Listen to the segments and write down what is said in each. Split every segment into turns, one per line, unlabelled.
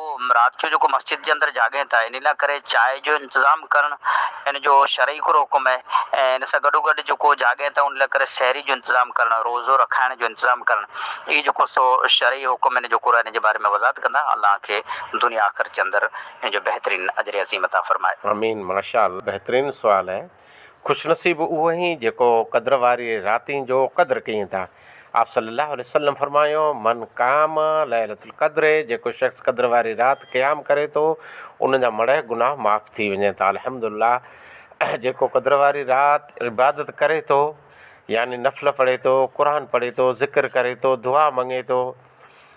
پوء رات جو جيڪو مسجد جي اندر جاڳين ٿا ان لا ڪري چائي جو انتظام ڪرڻ ان جو شرعي ڪھڙو حڪم آھي ۽ ان سان گڏو گڏ جيڪو جاڳين ٿا ان لا ڪري سحري جو انتظام ڪرڻ روزو رکائڻ جو انتظام ڪرڻ اھي جيڪو سو شرعي حڪم ان جو قرآن ان جي باري ۾ وضاحت ڪندا الله کي دنيا آخرت جي اندر ان جو بهترين اجر عظيم عطا فرمائي. آمين ماشاء الله
بهترين سوال اهي. خوشنصيب اهو آهين جيڪو قدر واري راتين جو قدر ڪيين ٿا. آپصلي الله عليه وسلم فرمايو، من قام ليلة القدر جيڪو شخص قدر واري رات قيام ڪري ٿو ان جا مڙهه گناهه معاف ٿي وڃن ٿا الحمد الله جيڪو قدر واري رات عبادت ڪري ٿو يعني نفل پڙهي ٿو، قرآن پڙهي ٿو، ذڪر ڪري ٿو، دعا مڱي ٿو،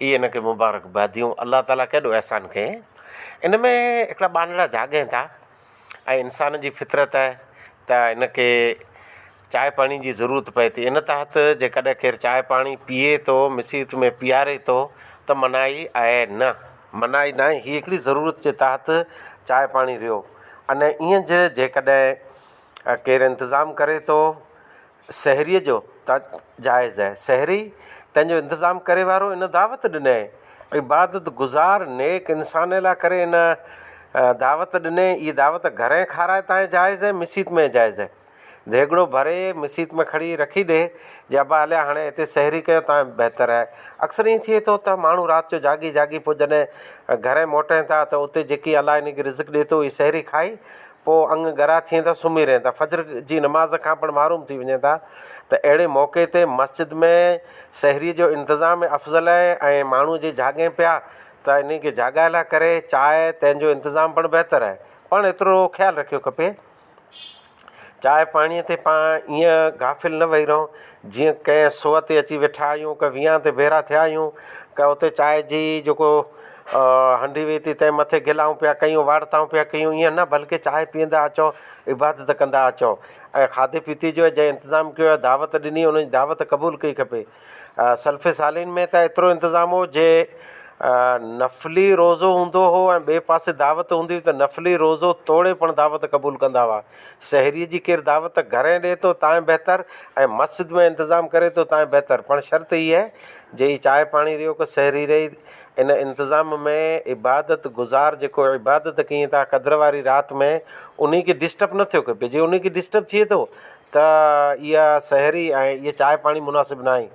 اي ان کي مبارڪ باديون الله تعاليٰ ڪيڏو احسان ڪيئي ان ۾ هڪڙا ٻانهڙا جاڳين ٿا ۽ انسان جي فطرت آهي ته ان کي چاهه پاڻي جي ضرورت پئي ٿي ان تحت جي ڪڏهن ڪير چاهه پاڻي پيئي ٿو مصيت ۾ پيئاري ٿو ته منائي آهي نه منائي ناهي هي هڪڙي ضرورت جي تحت چاهه پاڻي رهيو ان ايئن جي جي ڪڏهن ڪير انتظام ڪري ٿو سحريء جو ته جائز اهي. سحري تنهن جو انتظام ڪري وارو ان دعوت ڏنئي. عبادت گذار نيڪ انسانئ لاء ڪري ان دعوت ڏنئي. اهي دعوت گهرئين کارائي تانئ جائز اهي، مسيت مئي جائز اهي. ديڳڙو ڀري مسيت مئي کڻي رکي ڏي جي ابا هليا هاڻي هتي سحري ڪيو تانئ بهتر اهي. اڪثر ائين ٿئي ٿو ته ماڻهو رات جو جاڳي جاڳي پوء جڏهن گهرئين موٽين ٿا ته اتي جيڪي الله هنئي کي رزق ڏي ٿو اهي سحري کائي پوء اڱ ڳرا ٿئين ٿا سمهي رهن ٿا فجر جي نماز کان پڻ محروم ٿي وڃن ٿا ته اهڙي موقعي تي مسجد ۾ سحري جو انتظام افضل آهي ۽ ماڻهو جي جهاڳين پيا ته انهن کي جهاڳائي لاء ڪري چانهه تنهن جو انتظام پڻ بهتر آهي پڻ ايترو خيال رکيو کپي چانهه پاڻي تي پاڻ ايئن غافل نه وهي رهون جيئن ڪنهن سوئي تي اچي ويٺا آهيون، ڪنهن ويهان تي ڀيرا ٿيا آهيون، ڪنهن اتي چانهه جي جيڪو هنڊي ويئي ٿي تنهن مٿي گلائون پيا ڪيون، وارتائون پيا ڪيون، ائين نه بلڪه چانهه پيئندا اچو، عبادت ڪندا اچو ۽ کاڌي پيتي جو جنهن انتظام ڪيو آهي، دعوت ڏني ان جي دعوت قبول ڪري کپي. سلف صالحين ۾ ته ايترو انتظام هو جي نفلي روزو هوندو هو ۽ ٻئي پاسي دعوت هوندي هئي ته نفلي روزو توڙي پڻ دعوت قبول ڪندا هئا. سحريء جي ڪير دعوت گهرين ڏئي ٿو تانئن بهتر ۽ مسجد ۾ انتظام ڪري ٿو تانئن بهتر پڻ شرط هيء آهي جي هي چانهه پاڻي ريو ڪو سحري رهي ان انتظام ۾ عبادت گذار جيڪو عبادت ڪيئي ٿا قدر واري رات ۾ انهي کي ڊسٽرب نه ٿيو ڪبي جي انهي کي ڊسٽرب ٿئي ٿو ته اها سحري ۽ هيء چانهه پاڻي مناسب ناهي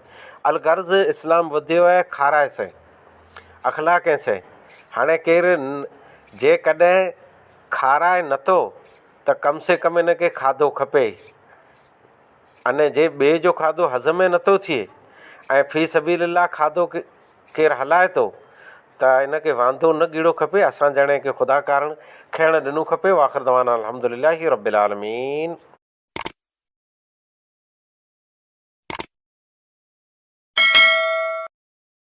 الغرض اسلام وڌيو آهي کارائي سهي اخلاق ۽ سهي هاڻي ڪير جيڪڏهن کارائي نٿو ته ڪم سي ڪم ان کي کاڌو کپي اني جي ٻئي جو کاڌو هضم ئي نٿو ٿئي ۽ في سبيل الله کاڌو ڪير هلائي ٿو ته ان کي وانڌو نه ڳڙو کپي اسان جهڙن کي خدا ڪارڻ کائڻ ڏنو کپي واخر دعوانا الحمد لله رب العالمين.